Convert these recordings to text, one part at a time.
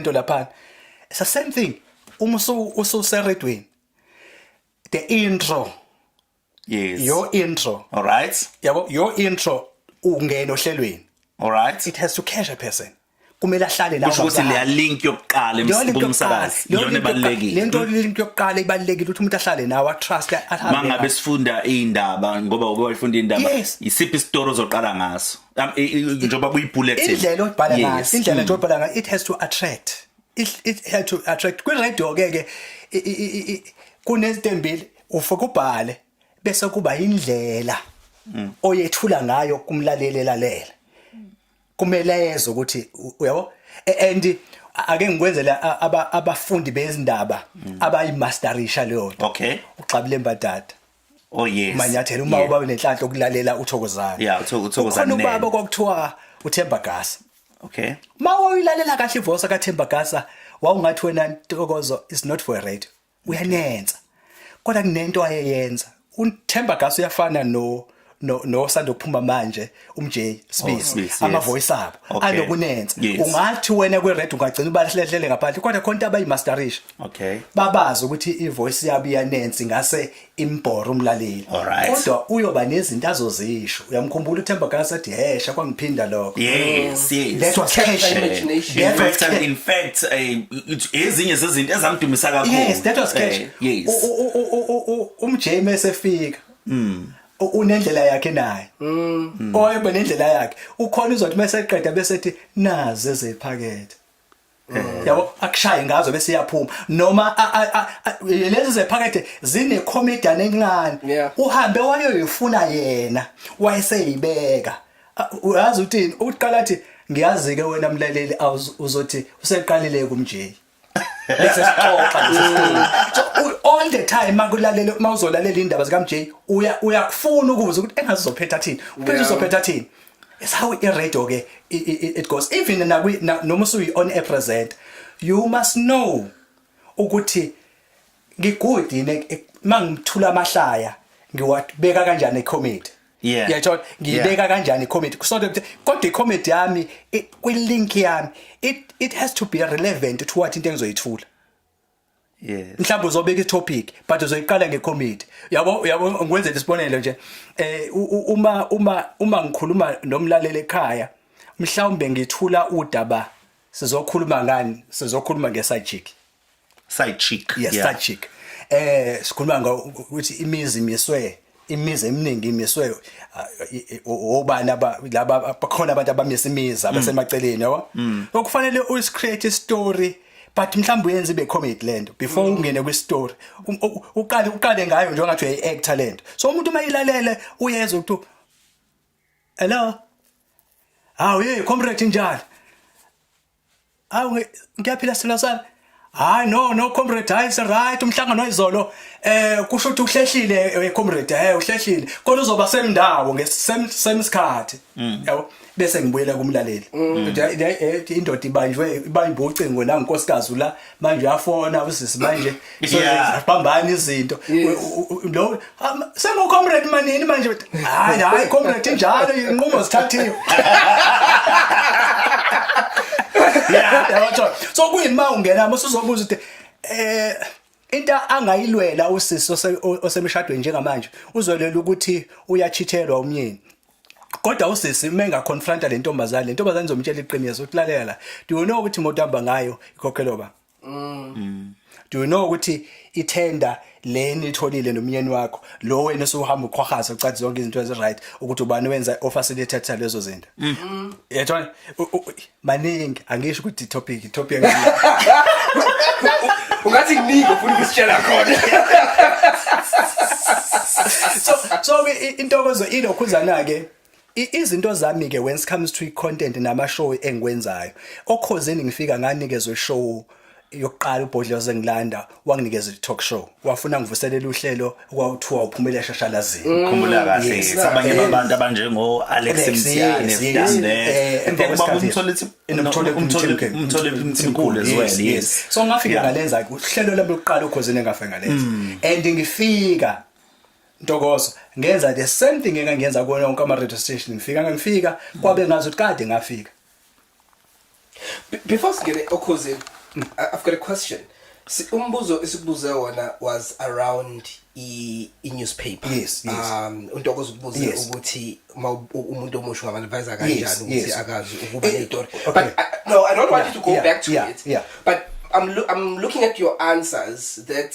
lento laphana it's the same thing uma ususeredweni the intro yes your intro all right yabo your intro ungena ohlelweni all right it has to catch a person kumele ahlale la kusho ukuthi leya link yokuqala emsakazi iyona ebalekile lento hmm? link yokuqala ibalekile ukuthi umuntu ahlale nawe a trust ahambe mangabe sifunda indaba ngoba uke wayifunda indaba isiphi isitori ozoqala ngaso Um, i- i- njengoba kuyi-bulletin indlela obhala ngayo Yes. Mm. indlela nje obhala ngayo it has to attract it, it has to attract kwiradio ke ke i- i- i- i- kunezinto embili ufike ubhale bese kuba indlela Mm. oyethula ngayo kumlaleli elalela kumele ezwe ukuthi u- uyabo A- and ake ngikwenzele a- aba- abafundi bezindaba abayimasterisha leyo nto Mm. Okay. uxabile mbadada Oh yes. Manyathela uma uba nenhlanhla okulalela uthokozana. Yeah, uthokozana. Khona ubaba kwakuthiwa uThemba Gasa. Okay. Mawayilalela kahle ivoice kaThemba Gasa wawungathi wena Ntokozo is not for a radio. Uyanenza. Kodwa kunento ayeyenza. UThemba Gasa uyafana no no no sando kuphuma manje umJ Sibisi oh, ama voice abo okay. anokunenza yes. ungathi wena kwe red ungagcina ubahlehlele ngaphandle kodwa khonta abayi masterisha okay babazi ukuthi i voice yabo iyanensi ngase imbhora umlaleli right. kodwa uyoba nezinto azozisho uyamkhumbula uThemba Gasa athi hesha kwangiphinda lokho yes yes that was cash imagination in fact, and in fact eh, ezinye zezinto ezamdumisa kakhulu yes that was cash eh, yes umJ mase fika Mm. U- unendlela yakhe naye Mm. oyebe nendlela yakhe ukhona uzothi mase eqeda bese ethi nazi ezephakethe yabo akushaye ngazo bese iyaphuma noma a- a- a- a- lezi zephakethe zine comedian encane Yeah. uhambe wayoyifuna yena wayeseyibeka A- uyazi uthini uqala athi ngiyazi ke wena mlaleli awuz- uzothi useqalile kumjeyi lesesixoxa lesesixoxa all the time makulalela uma uzolalela indaba zika MJ uya uyakufuna ukubuza ukuthi engazi uzophetha thini uphela uzophetha thini it's how i radio ke it goes even nakwi noma usuyi on a present you must know ukuthi ngigudi yini ek- ek- uma ngithula amahlaya ngiwabeka kanjani ecomedy Yeah. uyayithola ngiyibeka kanjani icomedy kusonto ukuthi kodwa icomedy yami i- kwi-link yami it, it has to be relevant to what into engizoyithula yes mhlawumbe uzobeka itopic but uzoyiqala ngecomedy yabo uyabo ngikwenzela isibonelo nje eh u- u- uma uma uma ngikhuluma nomlaleli ekhaya mhlawumbe ngithula udaba sizokhuluma ngani sizokhuluma ngesajiki side chick yes yeah. side chick eh sikhuluma ngokuthi imizi imiswe imizi eminingi imiswe uh, obani laba bakhona abantu abamisa imizi mm. abasemaceleni yabo mm. okufanele u create a story but mhlawumbe uyenza ibe comedy lento before mm. ungene kwi story um, uqale uqale ngayo njengathi uyi actor lento so umuntu uma ilalele uyeza ukuthi hello hawu hey comrade njalo Hawu ngiyaphila silo sami. Hayi no no comrade hayi se right umhlangano izolo eh kusho ukuthi uhlehlile eh, comrade eh uhlehlile kodwa uzoba semndawo ngesemsikhathi mm. yabo bese ngibuyela kumlaleli mm. eh, indoda ibanjwe ibanjwe ucingo la nkosikazi la manje uyafona usisi manje zibambana izinto lo sengu comrade manini manje hayi hayi comrade injalo inqumo sithathiwe yeah so kuyini ma ungena mase uzobuza ukuthi eh into angayilwela usisi osemshadweni njengamanje uzolwela ukuthi uyachithelwa umyeni kodwa usisi uma engaconfronta le ntombazane le ntombazane izomtshela iqiniso ukuthi lalela la do you know ukuthi imoto hamba ngayo ikhokhelwa ba mm. do you know ukuthi ithenda leni itholile nomyeni wakho lo wena usuhamba uqhwahaza ucathi zonke izinto ezi right ukuthi ubani wenza ofacilitator lezo zinto mm. yethona maningi angisho ukuthi topic topic ungathi kuningi ufuna ukusitshela khona so so intokozo ilokhuzana ke izinto zami ke when it comes to content nama show engikwenzayo okhozeni ngifika nganikezwe show yokuqala ubhodloze ngilanda wanginikeza i-talk show wafuna ngivuselela uhlelo kwakuthiwa uphumele eshashalazini mm. khumbula kahle yes, sabanye yes. abantu abanjengo Alex Mthiyane Mthiyane umthole umthole umthole umthole umthole yes, yes so ngafika yeah. ngalenza uhlelo lami lokuqala ukhozini engafika ngalenza mm. and ngifika ntokozo ngenza the same thing engangenza kuwona wonke ama radio station ngifika ngifika mm. kwabe ngazi ukuthi kade ngafika Be- Before singene okhozini, I- I've got a question. Si- Umbuzo esikubuze wona was around i, i newspaper. Yes, yes. Um untokozo ukubuze Yes. ukuthi uma u- u- umuntu omusha ungamadvise Yes, kanjani ukuthi yes. akazi ukuba Eh, neyitori. okay. But I, no, I don't want Yeah, you to go yeah, back to yeah, it. yeah. But I'm loo- I'm looking at your answers that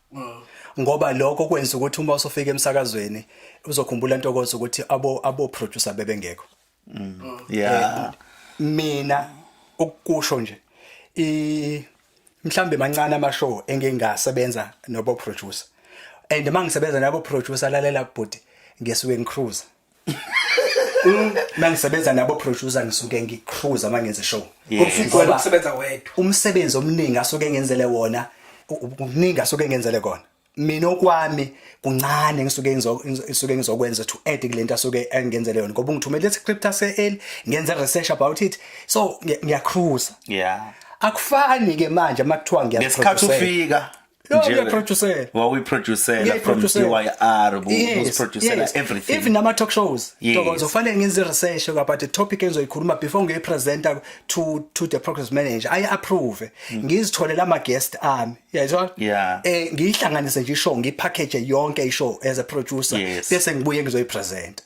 ngoba lokho kwenza ukuthi uma usofika emsakazweni uzokhumbula intokozo ukuthi abo abo producer bebengekho mm. yeah eh, mina ukusho nje i mhlambe mancane ama show engingasebenza nobo producer and mangisebenza nabo producer lalela bhuti ngesuke ngicruise uma ngisebenza nabo producer ngisuke ngicruise uma ngenze show ngoba ukusebenza wedwa umsebenzi omningi asuke ngenzele wona umningi asuke ngenzele kona mina okwami kuncane ngisuke ngisuke ngizokwenza to add kulento asuke engenzele yona ngoba ngithumele iscript ase eli ngenza research about it so ngiyacruise yeah akufani ke manje makuthiwa ngiyasikhathi ufika njengeproducer wawuyiproducer from DYR uziproducer yes. everything even nama talk shows yes. tokozo fanele ngenze research about the topic engizoyikhuluma before ngiyi presenter to to the progress manager i approve mm. ngizithole lama guest ami yayizwa yeah. eh ngiyihlanganise nje show ngipackage yonke i show as a producer yes. bese ngibuye ngizoyipresent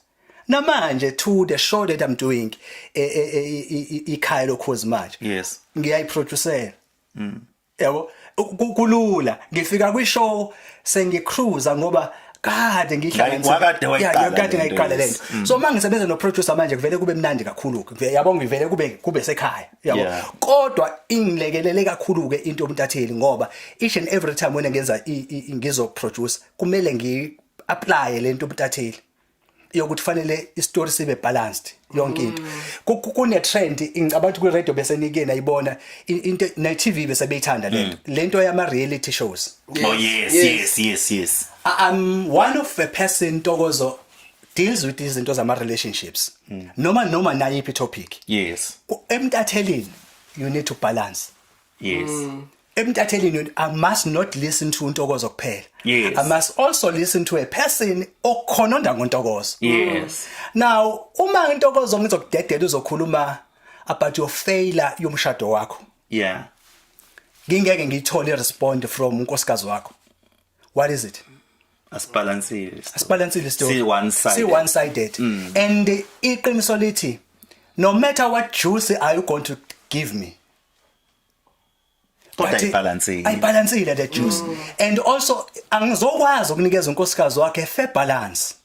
namanje to the show that i'm doing eh, eh, eh, ikhaya lokhozi manje yes ngiyayiproducer mm. yabo kulula ngifika kwi show sengicruza ngoba kade ngihlanganisakade ngayiqala le nto mm. so uma ngisebenza noproducer manje kuvele kube mnandi kakhulu-ke yabo ngivele kube kube sekhaya yabo kodwa ingilekelele kakhulu-ke into yomntatheli ngoba each and every time wena ngenza ngizoproduce kumele ngi-aplaye le nto yomntatheli yokuthi fanele istory sibe balanced yonke into mm. kune trend ngicabanga ukuthi kwi radio bese nike nayibona into na TV bese beyithanda lento mm. lento yama reality shows oh yes yes yes yes i'm one of a person tokozo deals with izinto zama relationships mm. noma noma nayiphi topic yes emtathelini you need to balance yes mm. emtathelini i must not listen to untokozo kuphela yes. i must also listen to a person okhononda ngontokozo yes now uma intokozo ngizokudedela uzokhuluma about your failure yomshado wakho yeah ngingeke ngiyithole respond from unkosikazi wakho what is it asibalansile asibalansile story si one sided si one sided mm. and iqiniso lithi no matter what juice are you going to give me kodwa But- ayibhalansile ayibhalansile the juice and also angizokwazi ukunikeza unkosikazi wakhe fair balance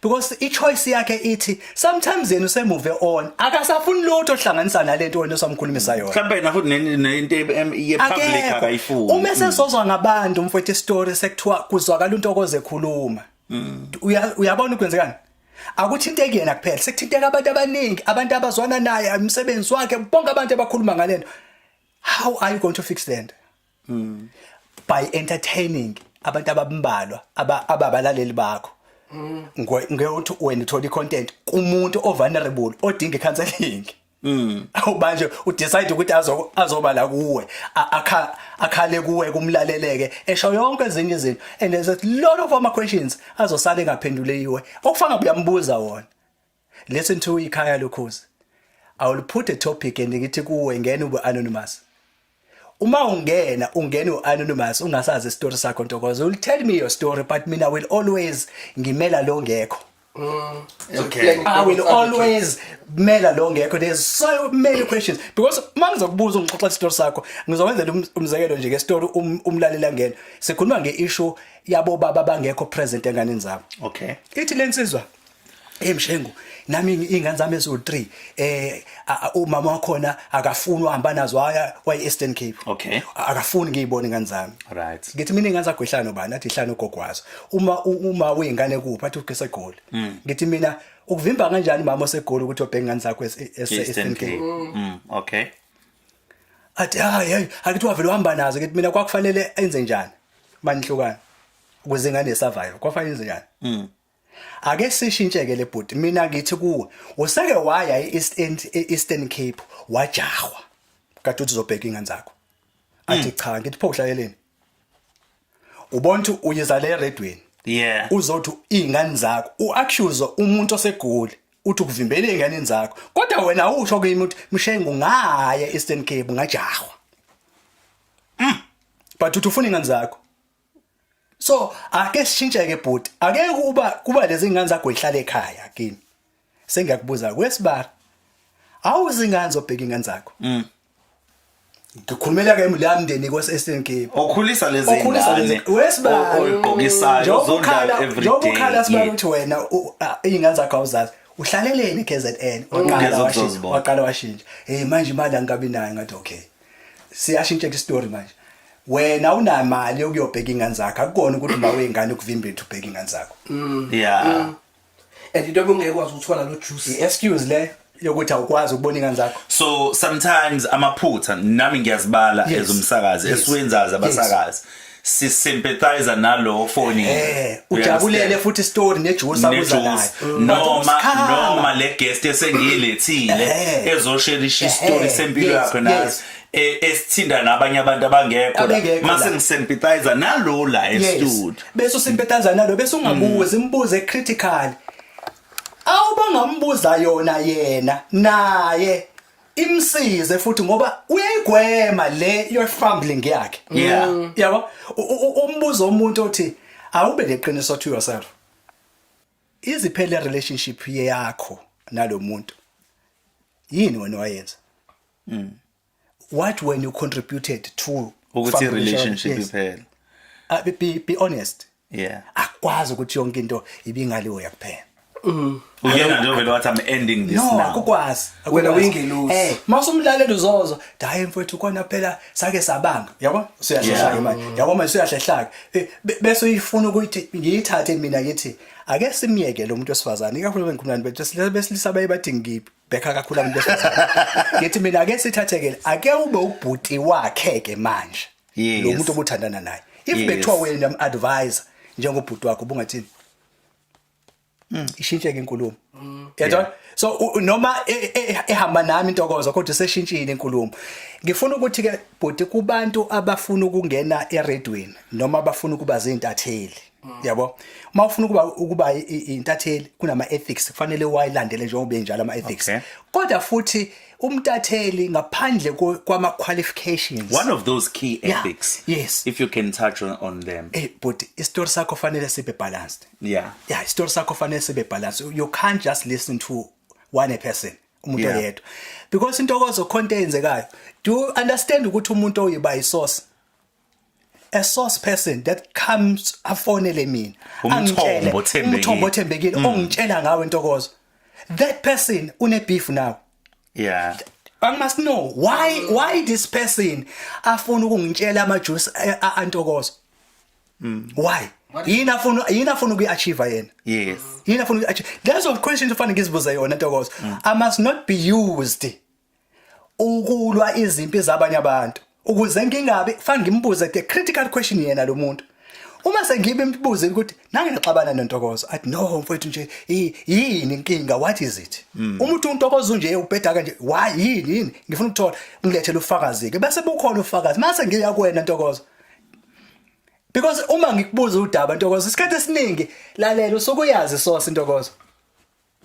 because i-choice yakhe ithi sometimes yena usemove on akasafuni lutho ohlanganisa nalento wena osamkhulumisa yona mhlawumbe yena futhi ne- nento ye- em- ye-public Akekho. akayifuni Mm. uma esezozwa ngabantu mfowethu isitori sekuthiwa kuzwakala untokoze ekhuluma Uya- uyabona ukwenzekani akuthinteki yena kuphela sekuthinteka abantu abaningi abantu abazwana naye umsebenzi wakhe bonke abantu abakhuluma ngalento how are you going to fix that mm. by entertaining abantu abambalwa ababalaleli bakho mm. ngeke uthi wena uthola icontent kumuntu ovulnerable odinga icounseling Mm. Awubanje udecide ukuthi azo azoba la kuwe akha akhale kuwe kumlaleleke esho yonke ezinye izinto and there's a lot of other questions azosala engaphenduleyiwe okufanga buyambuza wona listen to ikhaya lokhozi I will put a topic and ngithi kuwe ngene ube anonymous uma ungena ungene uanonymous ungasazi story sakho ntokozo will tell me your story but mina will always ngimela lo ngekho Mm, okay. I will always mela lo ngekho there's so many questions because uma ngizokubuza ungixoxa isitori sakho ngizokwenzela um, umzekelo nje ngesitori um, umlalela ngena sikhuluma ngeissue yabo baba bangekho present enganeni zabo okay ithi lensizwa hey mshengu nami ingane zami ezo 3 eh umama wakhona akafuni uhamba nazo haya kwa Eastern Cape okay akafuni ngiyibone ingane zami right ngithi mina ingane zakho ihlano bani athi ihlano gogwazo uma uma uyingane kuphi athi ugesa egoli mm. ngithi mina ukuvimba kanjani mama osegoli ukuthi obheke ingane zakho e-, e-, e-, Eastern Cape mm. mm okay athi hayi hayi akithi wavele uhamba nazo ngithi mina kwakufanele enze njani manihlukana ukuze ingane survive kwafanele enze njani mm ake sishintsheke le bhuti mina ngithi kuwe useke waya e-eastern e-eastern cape wajahwa kade uthi uzobheka ingane zakho athi hmm. cha ngithi pho uhlaleleni ubona ukuthi uyizale eredweni yeah uzothi izingane zakho uaccuse umuntu osegoli uthi ukuvimbela izingane zakho kodwa wena usho kimi ukuthi mshengu ngaye eastern cape ngajahwa mm. but uthi ufuna ingane zakho so ake sishintsheke bhuti ake kuba kuba lezi ngane zakho ihlale ekhaya kini sengiyakubuza kwesibara awuzi ngane zobheka ingane zakho mm. ngikhulumela ke imuli yamndeni kwaseSN Cape okhulisa lezi okhulisa lezi wesibara oyigqokisayo uzodlala every day yokukhala sibara ukuthi wena ingane zakho awuzazi uhlaleleni KZN waqala washintsha waqala washintsha hey manje imali angikabi nayo ngathi okay siyashintsha istory manje wena unamali ukuyobheka ingane zakho akukona ukuthi uma wengane ukuvimba into ubheka ingane zakho mm. yeah mm. and into obungeke kwazi ukuthola lo juice excuse le yokuthi awukwazi ukubona ingane zakho so sometimes amaphutha nami ngiyazibala yes. ezomsakazi yes. esiwenzaza abasakazi yes. si sympathize nalowo foni eh ujabulele futhi story nejuice abuza nayo noma noma le guest esengilethile eh. ezosherisha istory eh, sempilo yakhe nayo e, esithinda nabanye abantu abangekho mase ngisympathize nalo la estudio bese usympathize nalo bese ungabuzi imbuze mm. critical awubangambuza yona yena naye imsize futhi ngoba uyayigwema le your fumbling yakhe yeah mm. yabo umbuzo umuntu othi awube neqiniso to yourself iziphele relationship yakho nalomuntu yini wena wayenza mm. what when you contributed to ukuthi relationship iphele ah, be be honest yeah akwazi ukuthi yonke into ibingaliwe yakuphela Mm. Uyena nje vele wathi I'm ending this no, now. No, akukwazi. Wena uyingelosi. Eh, masumlaleli uzozwa, hayi mfowethu kona phela sake sabanga. Yabo? Siyahlehlaka imali. Yabo manje siyahlehlaka. Eh, bese uyifuna ukuthi ngiyithathe mina ngithi ake simyeke lo muntu wesifazane ikakhulu bengikhulana bethu silisa besilisa baye bathi ngibhekha kakhulu abantu besifazane. Ngithi mina ake sithathekele ake ube ubhuti wakhe ke manje. Yes. lo muntu obuthandana naye if Yes. bethiwa wena madiviser njengobhuti wakho ubungathini Mm, ishintsheke inkulumo yabona so u- u- noma e- e- ehamba nami intokozo kodwa iseshintshile inkulumo ngifuna ukuthi ke bhuti kubantu abafuna ukungena eredweni noma abafuna ukuba zintatheli yabo uma ufuna ukuba ukuba intatheli kunama ethics kufanele wayilandele njengoba benjalo ama ethics okay. kodwa futhi umtatheli ngaphandle kwama qualifications one of those key ethics yeah. yes if you can touch on, on them eh hey, but isitori sakho fanele sibe balanced yeah yeah isitori sakho fanele sibe balanced you can't just listen to one person umuntu oyedwa yeah. because intokozo khonto eyenzekayo do you understand ukuthi umuntu oyiba isource a source person that comes afonele mina angitshele umthombo othembekile mm. ongitshela ngawe intokozo that person une beef nawe yeah I must know why why this person afuna ukungitshela ama juice eh, antokozo mm. why yini afuna yini afuna ukuyiachieve yena yes yini afuna ukuyiachieve that's of questions ufana ngizibuza yona ntokozo mm. i must not be used ukulwa izimpi zabanye abantu ukuze ngingabi fanele ngimbuze the critical question yena lo muntu uma sengibe imbuze ukuthi nange naxabana nentokozo athi no mfowethu nje yini inkinga what is it hmm. umuntu untokozo nje ubheda kanje why yini yini ngifuna ukuthola ngilethele ufakazi ke bese bukhona ufakazi mase ngiya kuwena ntokozo because uma ngikubuza udaba ntokozo isikhathi esiningi lalela usukuyazi sosi ntokozo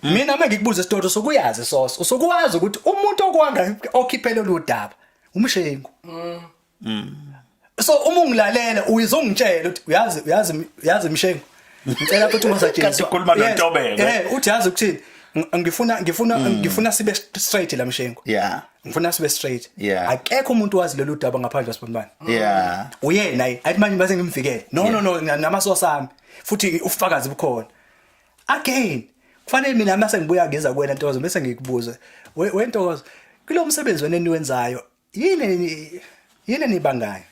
mina uma ngikubuza isitotho sokuyazi soso sokuwazi ukuthi umuntu okwanga okhiphele lodaba umshengu mm. mm. so uma ungilalela uyizongitshela ukuthi uyazi uyazi uyazi mshengu ngicela ukuthi ungasatshela kanti ukhuluma nontobeko eh uthi yazi ukuthini ngifuna ngifuna mm. ngifuna sibe straight la mshengu yeah ngifuna sibe straight yeah akekho umuntu wazi lolu daba ngaphandle wasibonibani yeah uyena ayi manje base ngimvikele no no no namasosa ami futhi ufakazi bukhona again kufanele mina uma sengibuya ngeza kuwena ntokozo bese ngikubuze wentokozo kulo msebenzi wena eniwenzayo yini yini nibangayo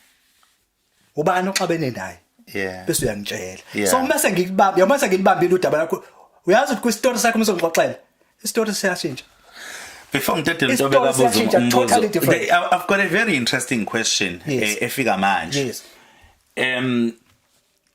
ubani oxabene naye yeah bese uyangitshela yeah. so uma sengikubamba yoma sengilibambile udaba lakho uyazi ukuthi kwistory sakho umsongixoxela istory siyashintsha Before ngidedele into bekabuza umbuzo. I've got a very interesting question yes. efika manje. Yes. Um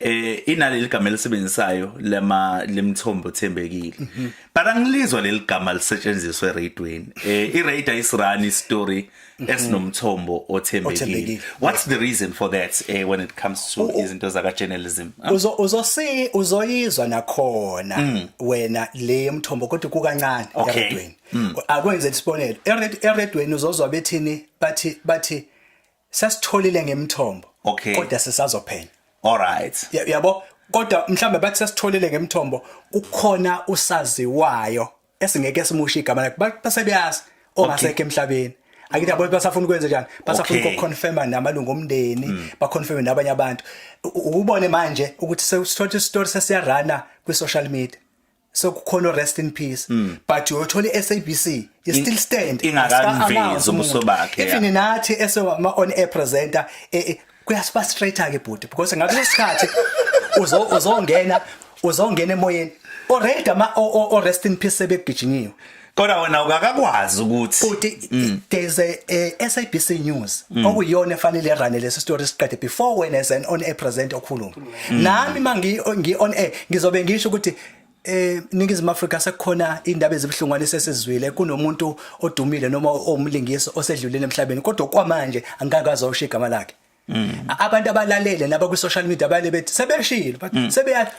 eh inaleli gama elisebenzisayo lama lemthombo thembekile mhm. but angilizwa leli gama lisetshenziswa eradweni eh irate ayisirani story mhm. esinomthombo othembekile what's the reason for that eh when it comes to izinto zaka journalism ah. uzo uzosi uzoyizwa nakhona mm. wena le yomthombo kodwa kukancane eradweni mm. akwenze isibonelo eradweni uzozwa bethini bathi bathi sasitholile ngemthombo okay. kodwa sisazophenya alright yabo kodwa mhlambe bathi sasitholile ngemthombo kukhona usaziwayo esingeke simushe igama lakhe base beyazi ongasekho emhlabeni angithi yabo basafuna ukwenza njani basafuna okay. ukuconfirma namalungu omndeni mm. baconfirme nabanye abantu ukubone manje ukuthi sesithola isitori sesiyarana kwi social media sekukhona rest in peace mm. but uyothola iSABC is still stand ingakavezi ubuso bakhe even yeah. nathi esewama on air presenter e, e, kuyasiba straight ke bhuti because ngaleso sikhathi uzo uzongena uzongena emoyeni already ama o, o, o rest in peace sebegijinyiwe kodwa wena ukakakwazi ukuthi futhi mm. there's a, a SABC news mm. okuyona efanele runne lesi story siqede before when as an on air present okhuluma mm. nami mangi ngi on air ngizobe ngisho ukuthi eh ningizimu Afrika sekukhona indaba ezibuhlungwane sesizwile kunomuntu odumile noma omlingisi osedlulile emhlabeni kodwa kwamanje angikakazi awushiya igama lakhe Mm. abantu abalalele laba ku social media abale bethi sebeshilo but mm. sebeya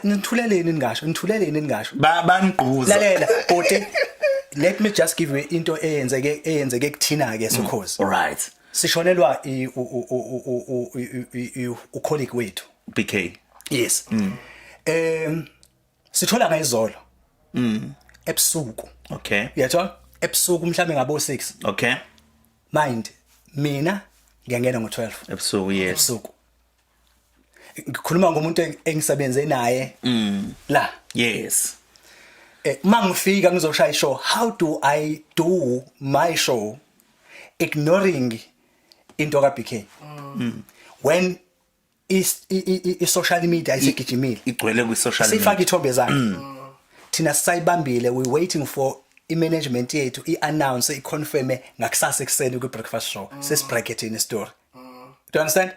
nithuleleni ningasho nithuleleni ningasho bangquza lalela bhuti let me just give you into eyenzeke eyenzeke kuthina ke sokhozi mm. right sishonelwa u colleague wethu BK yes mm. um sithola ngayizolo mm ebusuku okay uyathola ebusuku mhlambe ngabo 6 okay mind mina ngiyangena ngo12 ebusuku yes ebusuku ngikhuluma ngomuntu engisebenze naye mm la yes eh mangifika ngizoshaya show how do i do my show ignoring into ka BK mm. when i-social media isigijimile igcwele kwi-social media sifaka ithombe zakhe mm. thina sisayibambile we waiting for i-management yethu i-announce i-confirme ngakusasa ekuseni kwi-breakfast show mm. sesibrackethini story mm. do you understand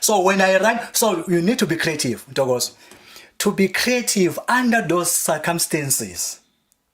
so when i run so you need to be creative ntokozo to be creative under those circumstances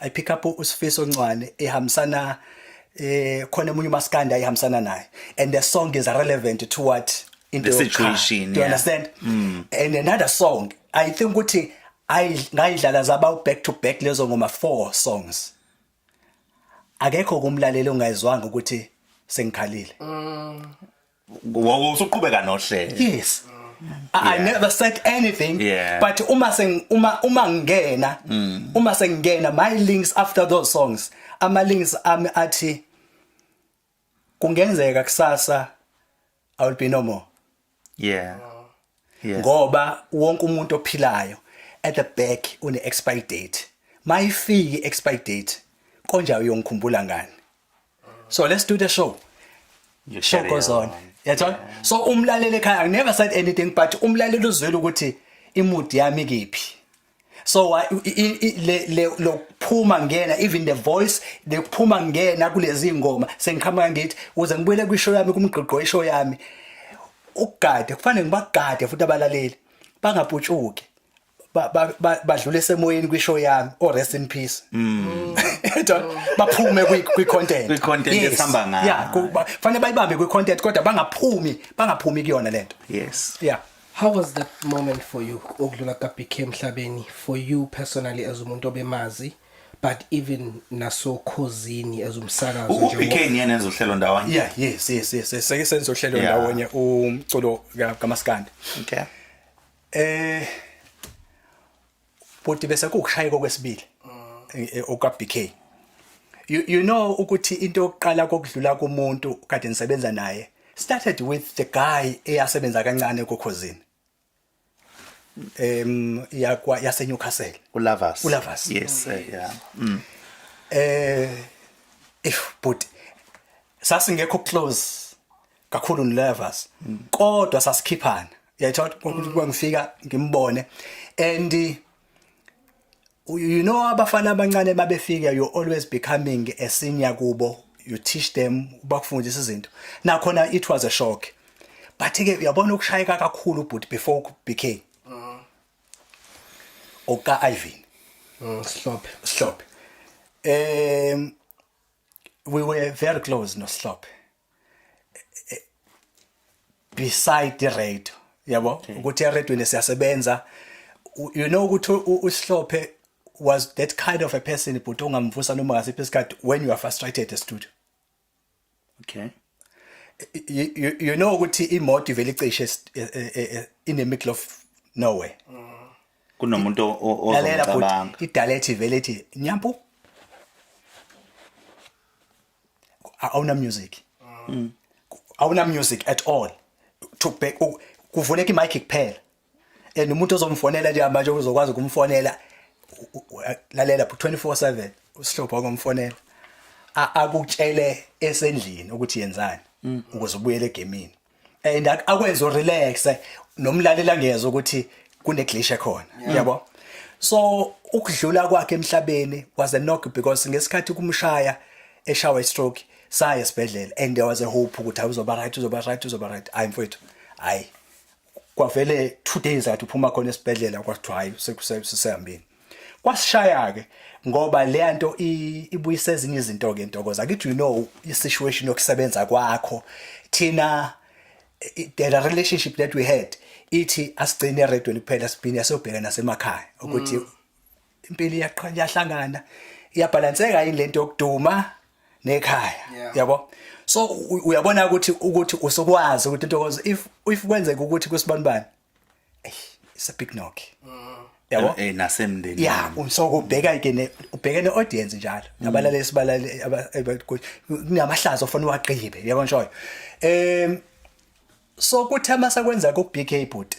I pick up uSifiso Ncwane ehambisana eh khona emunye umaskanda ayihambisana naye and the song is relevant to what into the situation do you yeah. understand mm. and another song i think ukuthi ngayidlala zaba back to back lezo ngoma four songs akekho kumlaleli ongayizwanga ukuthi sengikhalile mm. Wow, usuqhubeka nohlelo. Yes. I, yeah. I never said anything yeah. but uma seng uma uma ngena mm. uma sengena my links after those songs ama links ami athi kungenzeka kusasa i will be no more yeah yes. ngoba wonke umuntu ophilayo at the back une expire date mayifiki expire date konja uyongikhumbula ngani so let's do the show You show carry goes on yathola so umlaleli ekhaya i never said anything but umlaleli uzwile ukuthi imudi yami kiphi so wa- i- i- i- le- le- lokuphuma ngena even the voice lokuphuma ngena kulezi ngoma sengiqhamuka ngithi uze ngibuyele kwishow yami kumgqigqo ishow yami ukugade kufanele ngibagade futhi abalaleli bangaputshuki badlule esemoyeni kwishow yami o oh, rest in peace mm. yabona baphume kwi content kwi content esihamba ngayo yeah kufanele bayibambe kwi content kodwa bangaphumi bangaphumi kuyona lento yes yeah How was that moment for you ukudlula ka BK emhlabeni for you personally as umuntu obemazi but even nasokhozini as umsakazo nje uBK niyena ezohlelo ndawonye yeah yes yes yes seke senzohlelo ndawonye umculo kaMaskandi okay Eh bhuti bese kukushayeka okwesibili eh, eh, okwa BK. You you know ukuthi into yokuqala kokudlula kumuntu kade nisebenza naye started with the guy eyasebenza kancane kokhozini. Em yakwa yase Newcastle. Ulavas. Ulavas. Yes, eh, yeah. Mm. Eh if bhuti sasingekho close kakhulu nervous mm. kodwa sasikhiphana yayithola kuba ngifika ngimbone and you know abafana abancane babefika you always becoming a senior kubo you teach them ubakufundisa izinto nakhona it was a shock but ke uyabona ukushayeka kakhulu but before became mm. oka Ivan mm, Slop Slop um we were very close no Slop beside the radio yabo okay. ukuthi eredweni siyasebenza you know ukuthi usihlophe was that kind of a person but ongamvusa noma ngasiphi isikhathi when you are frustrated the studio okay you, you, you know ukuthi imoto ivele icishe e, e, e, in the middle of nowhere mm. kunomuntu ozomcabanga idalethi vele ithi nyampu awuna music mm. awuna music at all to back kuvuleka imic kuphela and umuntu ozomfonela nje manje uzokwazi ukumfonela lalela 24/7 usihlopha komfonela akutshele esendlini ukuthi yenzani mm. ukuze ubuyele egemini and ak- akwenze urelaxe nomlaleli angezwa ukuthi kuneglishe ekhona yabo so ukudlula kwakhe emhlabeni was a knock because ngesikhathi kumshaya eshawa istroke saya esibhedlela and there was a hope ukuthi hayi uzoba right uzoba right uzoba right hayi mfowethu hayi kwavele two days athi uphuma khona esibhedlela kwathiwa hayi sekusehambeni kwasishaya ke ngoba leya nto ibuyisa ezinye izinto ke ntokoza ngithi you know i-situation yokusebenza kwakho thina the relationship that we had ithi asigcine eredweni kuphela siphinde siyobheka nasemakhaya ukuthi mm. impilo iyaqhanya yahlangana iyabhalanseka yini lento yokuduma nekhaya yabo so uyabona ukuthi ukuthi usukwazi ukuthi ntokozo if if kwenzeka ukuthi kusibanibani it's a big knock mm. yabo eh, eh nasemndeni ya unsoko ubheka ke ne ubheke ne audience njalo mm. abalale sibalale kunamahlazo ofuna uwagqibe yabo nshoyo em so kuthema sakwenza ku BK bhuti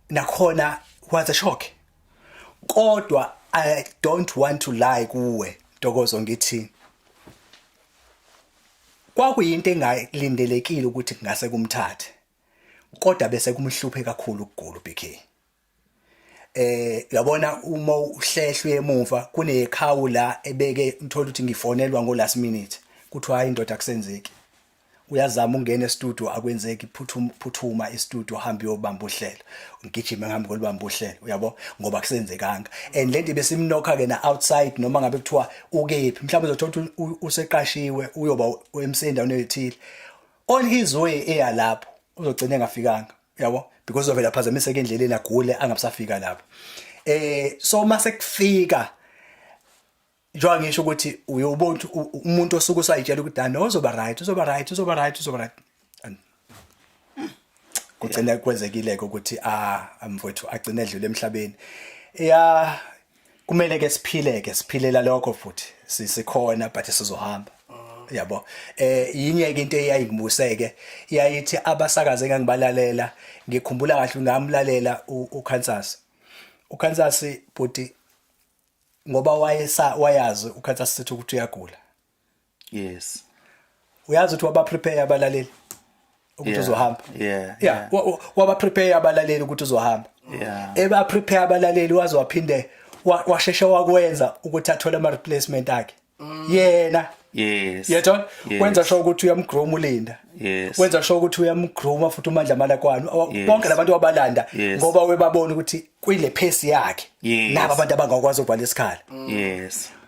nakhona was a shock kodwa i don't want to lie kuwe ntokozo ngithi Kwakuyinto engalindelekile ukuthi kungase kumthathe kodwa bese kumhluphe kakhulu ukugula uBK. Eh yabona uma uhlehlwe emuva kunekhawu la ebeke uthola ukuthi ngifonelwa ngo last minute kuthiwa hayi indoda kusenzeki. Uyazama ungena e-studio akwenzeki phuthuma phuthuma e-studio hamba uyobamba uhlelo. Ngigijime ngihamba kolibamba uhlelo uyabo ngoba kusenzekanga. And lento besimnokha ke na outside noma ngabe kuthiwa ukephi mhlawumbe uzothola ukuthi useqashiwe uyoba emseni endaweni ethile on his way eya lapho uzogcina engafikanga yabo because uzovela phazamiseka endleleni agule angabusafika lapho eh so uma sekufika njengoba ngisho ukuthi uyobona umuntu osuke usayitshela ukuthi dani uzoba right uzoba right uzoba right uzoba right kugcine kwenzekile ke ukuthi a ah, mfowethu agcine edlule emhlabeni ya kumele ke siphile ke siphilela lokho futhi sikhona but sizohamba yabo eh yinye ke into eyayingibuseke yayithi abasakaze ngangibalalela ngikhumbula kahle ngamlalela uKansas uKansas bhuti ngoba wayesa wayazi uKansas sithi ukuthi uyagula yes uyazi ukuthi waba prepare abalaleli ukuthi uzohamba yeah yeah waba prepare abalaleli ukuthi uzohamba yeah eba prepare abalaleli waze waphinde washeshe wakwenza ukuthi athole ama replacement akhe mm. yena yes yetho wenza sho ukuthi uyamgroom ulinda yes wenza sho ukuthi uyamgroom futhi umandla malakwani bonke labantu wabalanda ngoba webabona ukuthi kuyile pace yakhe nabo abantu abangakwazi ukuvala isikhala yes